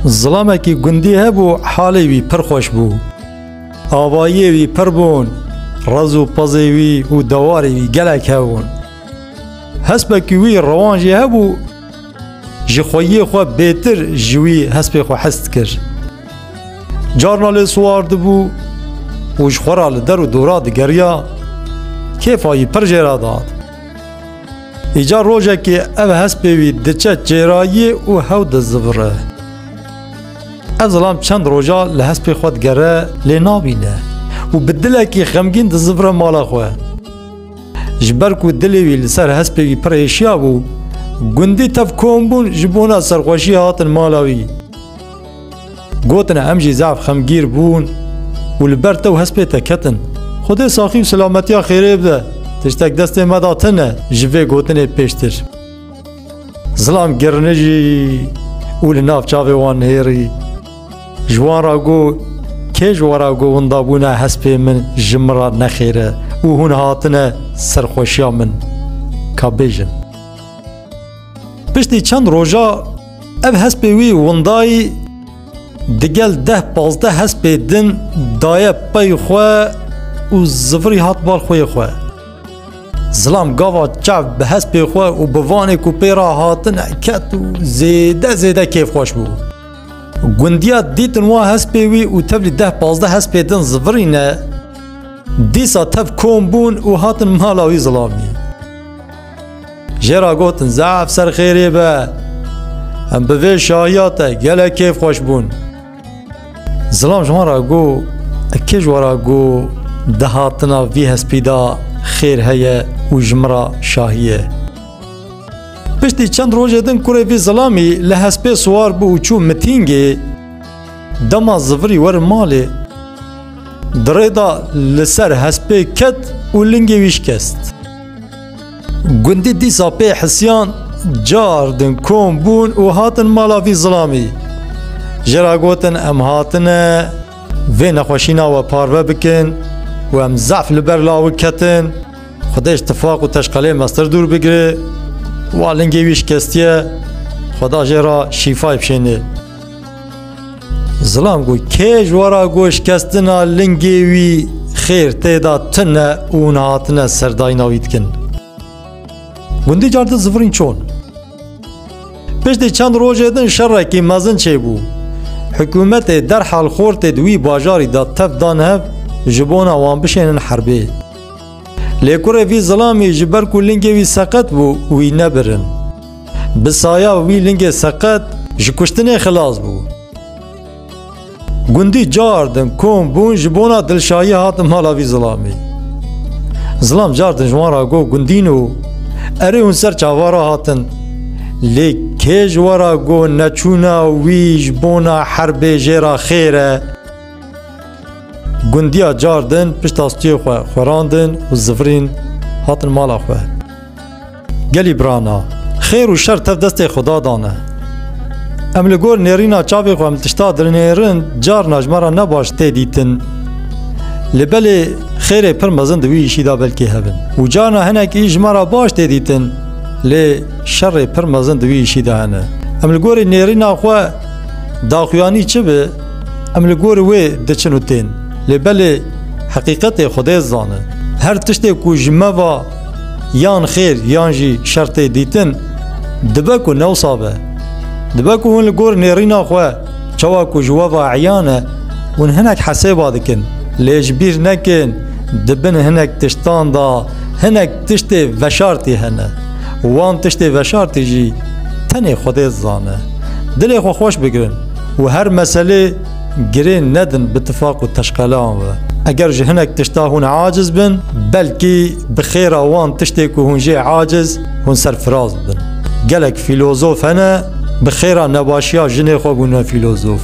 Zilamekî gundî hebû halê wî pir xweş bû. Avayiyê wî pir bûn, rez û pezê wî û dewarê wî gelek hebûn. Hespekî wî rewan jî hebû, ji xweyiyê xwe bêtir ji wî hespê xwe hez dikir. Carna lê siwar dibû û ji xwe re li der û dora digeriya, kêfa wî pir jê re dat. Îcar rojekê ev hespê wî diçe çêrayî û hew dizivire. Ev zilam çend roja li hespê xwe digere lê nabîne û bi dilekî xemgîn dizivire mala xwe. Ji ber ku dilê wî li ser hespê wî pir êşiya bû, gundî tev kombûn ji bona serxweşiyê hatin mala wî. Gotina em jî zaf xemgîr bûn û li ber te û hespê te ketin. Xwedê saxî û selametiya xêrê bide. Tiştek destê me da tine ji vê gotinê pêştir. Zilam girinijî û li nav çavê wan nihêrî. Ji wan ra got, Kê ji we ra got winda bûna hespê min ji min ra nexêr e û hûn hatine serxweşiya min? Ka bêjin. Piştî çend roja ev hespê wî windayî digel deh pazdeh hespê din daye pey xwe û zivirî hat bar xwê xwe. Zilam gava çav bi hespê xwe û bi vanê ku pê re hatine ket û zêde zêde kêfxweş bû. Gundiya dîtin wa hespê wî û tevlî deh pazdeh hespê din zivirîne, dîsa tev kom bûn û hatin mala wî zilamî. Jê ra gotin zaf ser xêrê be. Em bi vê şahiya te gelek kêf xweş bûn. Zilam ji wan ra got, Kê ji we ra got di hatina vî hespî de xêr heye û ji min ra şahî ye? Piştî çend rojê din kurê vî zilamî li hespê siwar bû û çû mitîngê. Dema zivirî werin malê. Di rê de li ser hespê ket û lingê wî şikest. Gundî dîsa pê hisiyan cardin kom bûn û hatin mala vî zilamî. Ji ra gotin em hatine vê nexweşîna we parve bikin û em zaf li ber lawik ketin, Xwedê ji tifaq û teşqelê mestir dûr bigire, wa lingê wî şikestiye, Xweda jê ra şîfay bişêne. Zilam got kê ji wara goşkestina lingê wî xêr tê da tune û hûn hatine serdayîna wî dikin. Gundî car di zivirîn çon. Piştî çend rojê din şerekî mezin çêbû. Hikûmetê derhal xortê di wî bajarî da tev dan hev ji bona wan bişênin herbê. Lê kurê vî zilamî ji ber ku lingê wî seqet bû wî nebirin. Bi saya wî lingê seqet ji kuştinê xilas bû. Gundî car din kom bûn ji bona dilşayî hatin mala vî zilamê. Zilam car din ji wan ra got gundîn û erê hûn ser çavara hatin. Lê kê ji we ra got neçûna wî ji bona herbê jê ra xêr e. Gundiya car din pişta stûyê xwe xwerandin û zivirîn hatin mala xwe. Gelî brana, xêr û şer tev destê Xuda dan e. Em li gor nêrîna çavê xwe em li tişta dinêrin carna ji me re ne baş tê dîtin. Li belê xêrê pir mezin di wî îşî de belkî hebin. Û carna hinekî ji me re baş tê dîtin lê şerê pir mezin di wî îşî de hene. Em li gorî nêrîna xwe daxuyanî çi bi em li gorî wê diçin û tên. Lê belê heqîqetê Xwedê zane. Her tiştê ku ji me va yan xêr yan jî şer tê dîtin dibe ku newsa be. Dibe ku hûn li gor nêrîna xwe çawa ku ji we ve eyan e hûn hinek hesêba dikin lê ji bîr nekin di bin hinek tiştan da hinek tiştê veşartî hene û wan tiştê veşartî jî tenê xwedê zane. Dilê xwe xweş bigirin û her meselê Girên nedin bi tifaq û teşqelan ve. Eger ji hinek tişta hûn aciz bin, belkî bi xêra wan tiştê ku hûn jê aciz, hûn serfiraz dibin. Gelek fîlozof hene, bi xêra nebaşiya jinê xwe bûne fîlozof.